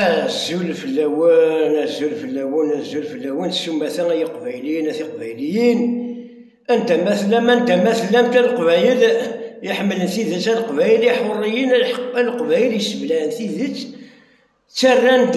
Azul fell-awen, azul fell-awen, azul fell-awen, s umata ay iqbayliyen, a tiqbayliyin, anda ma tellam, anda ma tellamt, a leqbayel iḥemmlen tidet, a leqbayel iḥurriyen, a leqbayel yesseblaɛen tidet, ttarran-d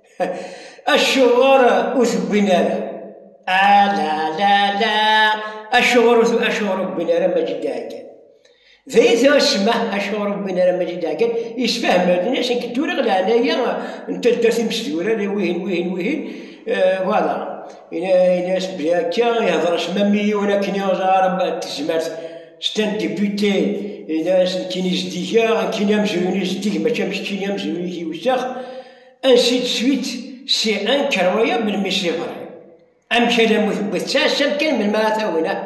Acuɣer ur t-wwin ara? Ala, la, la, acuɣer ur acuɣer ur wwin ara Maǧid Ɛeggal? D ay tɛussma acuɣer ur wwin ara Maǧid Ɛeggal? Yessefhem-d ini akken dduriɣ leɛnaya n taddart imesdurar i wihin, wihin, wihin, voilà. Ini-as belli akka ihder s mami yiwen akken iɣẓar tezmert. C'était un député, ini-as nekkini zeddigeɣ, nekkini amezruy-nni zeddig mačči am keččini amezruy-ik iwessex. Ansi-tt suite si anker waya melmi s iḍer. Amek alammi tewwit d taɛessant kan melmi ara tawin ah.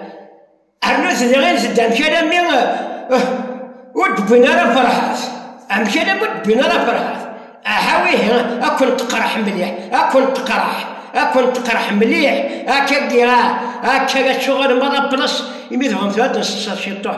Rnut diɣ inzed amek alammi ur d-wwin ara ferḥat. Amek alammi ur d-wwin ara ferḥat. Aha wihi akk-n teqreḥ mliḥ, akk-n teqreḥ, akk-n teqreḥ mliḥ, akka giɣ ah, akka acuɣer merra plus imi tebɣam tura ad nesseṣṣer ciṭuḥ.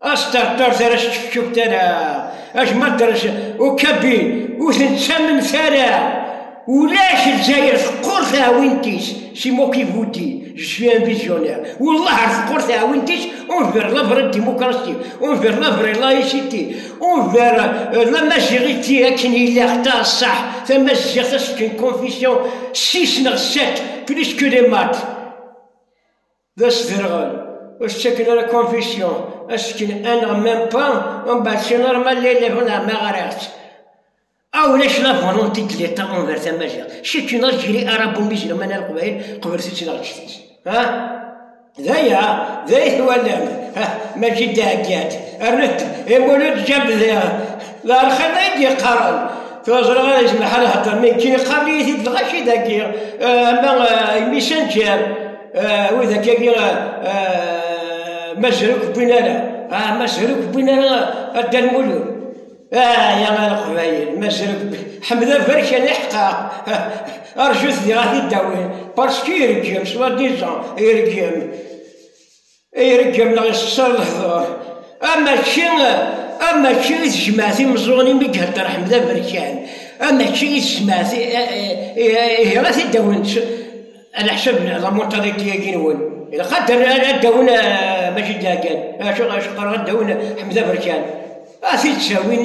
Asṭerṭer tara s-čefčuf tara, acma drec ukabi ur ten-ttamemt ara. Ulac Lezzayer teqqur taɛwint-is, c'est moi qui vous dis, je suis un visionnaire. Wallah ar teqqur taɛwint-is envers la vraie démocratie, envers la vraie laïcité, envers euh, la majorité akken ilaq taṣṣaḥ, tamaziɣt c'est une confession 6 neɣ 7 plus que les maths. d asderɣel ur s-ttaken ara confusion ad s-ttaken aneɣ même pas umbeɛd si normal la yella huna ma ɣriɣ-tt aw ulac la volonté de l'état envers tamaziɣt c'est une Algérie arabo-musulmane ar qbayel qeblet-tt neɣ ǧǧet-tt ha d aya d ay twalamt ha maǧi d-ɛeggant rnet imulud ǧabdiɣ D arxan ay d-yeqqaren. Tura ẓriɣ ara yezmer ḥal hedder mi kkin iqarn-iyi-t-id dɣa ci dagi ama imisanǧer wid akkagi mazruk wwin ara mazruk wwin ara adda lmulun ya ar qbayil mazruk ḥmed aberkan iḥqaq arjut di ɣati dawin parce que ireggem soit disant ireggem Ay ireggem neɣ yessexṣar lehdur. Am ačči, am ačči i tejmaɛt imeẓẓuɣen imi i ihedder Ḥmed Aberkan. Am ačči i tejmaɛt ihi ad t-id-awent leḥsab n lamuṭariṭi-agi-nwen. Ilaq ad d-awen Majid Lagan, acu, acuɣer ad d-awen Ḥmed Aberkan? Ad t-id-ttawin.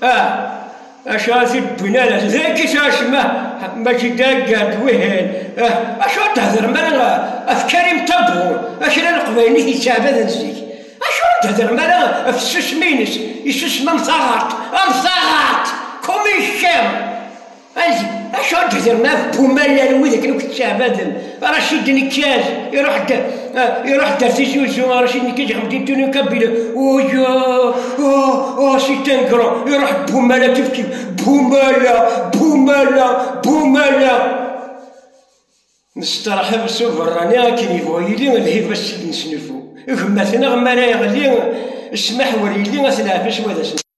Ah, acuɣer t-id-wwin ala dagi s acemma, mačči dagga-d wihin, ah, acuɣer theddrem ara ɣef Karim Tabbour, akra n Leqbaylit yettɛabaden zik, acuɣer theddrem ara ɣef tsusmi-ines, isusem am taɣaṭ, am taɣaṭ, comme il chien! Acu d-hedren ɣef Bumalal wid akken akk ttɛebaden Racid Nekkaj, iruḥ-d iruḥ-d ar Tizi Uzzu, Racid Nekkaj iɣleb-d Antonio Cabello, uyo, u, u, Sitan Grand, iruḥ-d Bumala kifkif, Bumala, Bumala, Bumala. Nesterḥeb s uberrani akken yebɣu yili, lhib ad s-id-nesnufu i gma-tneɣ mi ara yeɣli ssmaḥ ur yelli, ad t-neɛfes wa d ass-nneɣ.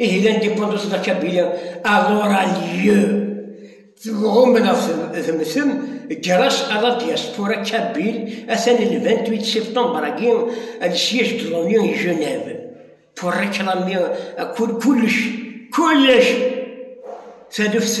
Ihi l'indépendance de la Kabylie alors a lieu tɣumm neɣ temtem ger-as à la diaspora kabyle atan le 28 septembre-agi le siège de l'ONU i Genève pour réclamer kullec kullec taluft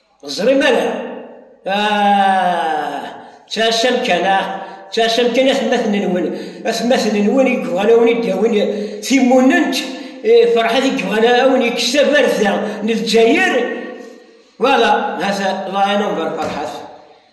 Ẓri mara. Ah, ttɛassam kan, ah, ttɛassam kan atmaten-nwen. Atmaten-nwen i yebɣan a wen-id-awin timunent, eh, Ferḥat i yebɣan a wen-yekkes tabarda n Lezzayer. Voilà, hata, Allah yaɛin-am ɣer Ferḥat.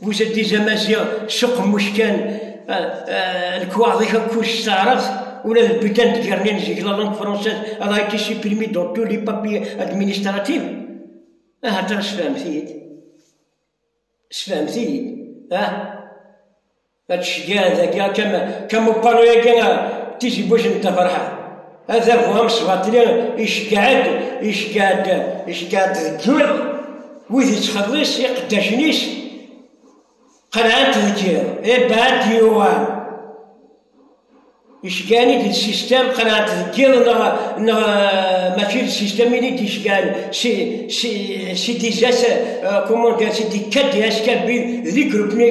vous êtes des amaziɣ seqmuc kan lekwaɣeḍ-ik akk ur s-teɛreḍ ula d lbutan d gernin zig la langue française elle a été supprimée dans tous les papiers administratifs ahat ah, sfehmet-iyi-d sfehmet-iyi-d ah ad tceggɛeḍ akka kama kama upalu-yagi tizi buj n taferḥa Adabu amesbaṭli iceggeɛ-d, iceggeɛ-d, iceggeɛ-d deg yiḍ, wid yettxelliṣ iqeddacen-is, qelɛen-t deg yiḍ, ibɛed yuɣal. Iceggeɛen-id d sistem, qelɛen-t deg yiḍ, neɣ, neɣ mačči d sistem ini d-iceggeɛen, si, si, si disait, comment dire, si di kadias kabid, di grupni,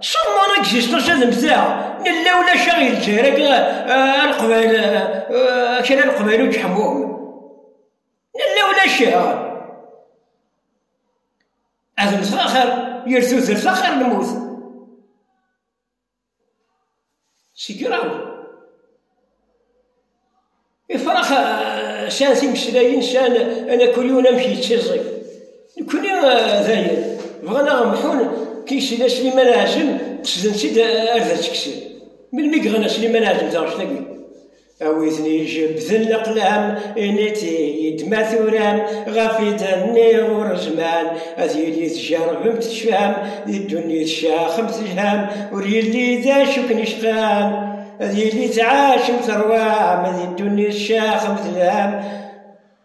Summer existence ad mteɣ nella ulac aɣ ilǧer akka alqbal kra alqbal ur ǧeḥmum nella ulac ad mteɣ axir yir tudert axir lmut Segraw. Ifrax eh, sɛan timeslayin, sɛan anakulyun amek yettiẓi. Nekkni eh, dayen, bɣan aɣ mḥun tisila Sliman Ɛazem, qesden-tt-id eh, ar d as-kksen. Melmi i iɣna Sliman Ɛazem taɣect-agi? Awiten ijebbden leqlam, initi yedma turam, ɣef idan-nni ur zman, ad yili tjerrvem tecfam, di ddunit tcaxem telham, ur yelli d acu ken-icqan, ad yili tɛacem terwam, di ddunit tcaxem telham,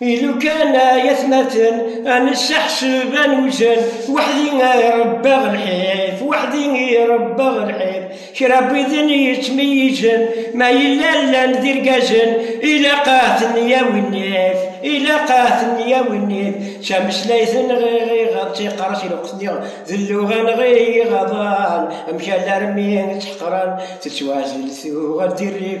I lukan ay atmaten ad nessaḥseb ad newzen, weḥd-i ay ṛebbaɣ lḥif, weḥd-i i ṛebbaɣ lḥif. Kra n widen yettmeyyizen, ma yella llan d irgazen, ilaq ad ten-yawi nnif, ilaq ad ten-yawi nnif. D tameslayt neɣ iɣ, d tiqerrest i lweqt nni, d lluɣa neɣ i yiɣaḍan, amek alarmi i tt-ḥeqren, tettwazzel tuɣal d irrif.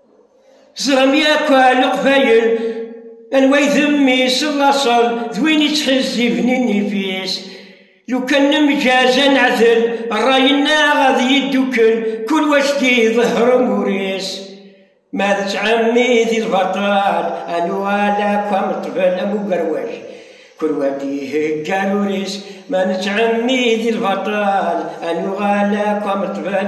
Ẓram yakk leqbayel anwa i d mmi-s n laṣel d win ittḥezziben nnif-is. Lukan nemgaz ad neɛdel ṛṛay-nneɣ ad yeddukel kul wa s-d-iḍehher umur-is. Ma d ttɛemmi di lbaṭel ad nuɣal akk am ṭṭbel am ugerwaj. Kul wa d-ihegga arur-is. Ma nettɛemmi di lbaṭel ad nuɣal akk am ṭṭbel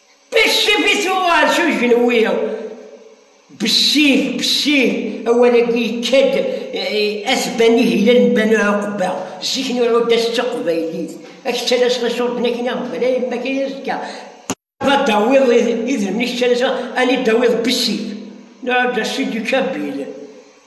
Beccif i tuɣal s ujenwi. Beccif, beccif, awal-agi yekka-d eh, asban ihilan n Banu Ɛuqba, zik n uɛudas d taqbaylit, ad k-ttalaseɣ iṣurden akin a ɣbel, ay mma akin azekka, ad d-tawiḍ idrimen i k-ttalaseɣ, ad d-tawiḍ beccif, nɛudas si du kabil.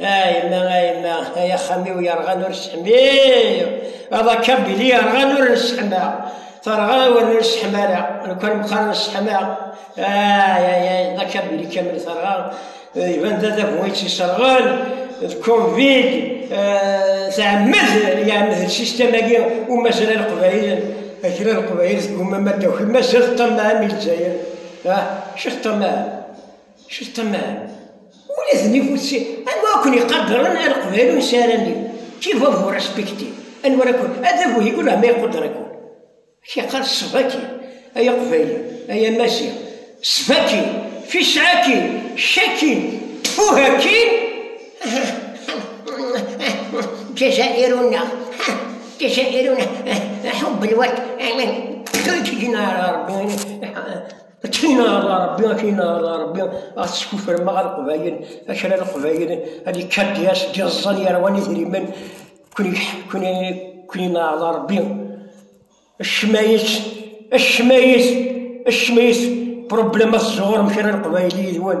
A yemma, a yemma, ay axxam-iw yerɣan ur sseḥmiɣ, ad akabili yerɣan ur nesseḥmaɣ, terɣa ur nesseḥm ara, nekwan meqqar nesseḥmaɣ, ay ay ay, d akabili kamel terɣa, iban d adabu ay tt-iserɣen, d Covid, tɛemmed, iɛemmed lsistem-agi umazal aleqbayel, kra leqbayel tgumam ad d-taki, mazal ṭṭamaɛen i Lezzayer, ah, acu teṭṭamaɛem? Ceṭṭman, ula d nnig utti, anwa i ken-iqadren a Leqbayel ur nesɛi ara nnig, qui va vous respecter? Anwa ara ken, ad d-agu yigul ama iquder-iken. Ak yeqqar ssbaki, ay Aqbayli, ay Amaziɣ, ssbaki, fisɛaki, caki, ttfuhaki, Ǧazairuna, Ǧazairuna, ḥubben wat, ttxil-k, ǧǧin-aɣ Ṛebbi. Akken ara Rebbi, akken ara Rebbi, ad teskufrem ma ɣer Leqbayel, akra Leqbayel, ad yekker dyas, d-iẓẓan yerwan idrimen, kuni ara Rebbi. Ccmayet, ccmayet, ccmayet, problema tẓuɣrem kra Leqbayel yid-wen.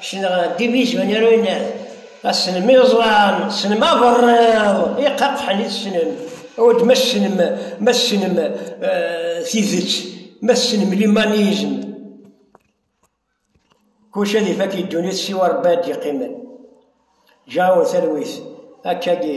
Ssneɣ Diviz Van Herwin, ass-n mi ẓran, ssnem aberriḍ iqaqḥen i tessnem, awal-d ma ssnem, ma ssnem tidet, ma ssnem limanizm, kullec ad ifak i ddunit siwa Rebbi ad d-yeqqimen. Ǧǧiɣ-awen talwit, akka-gi.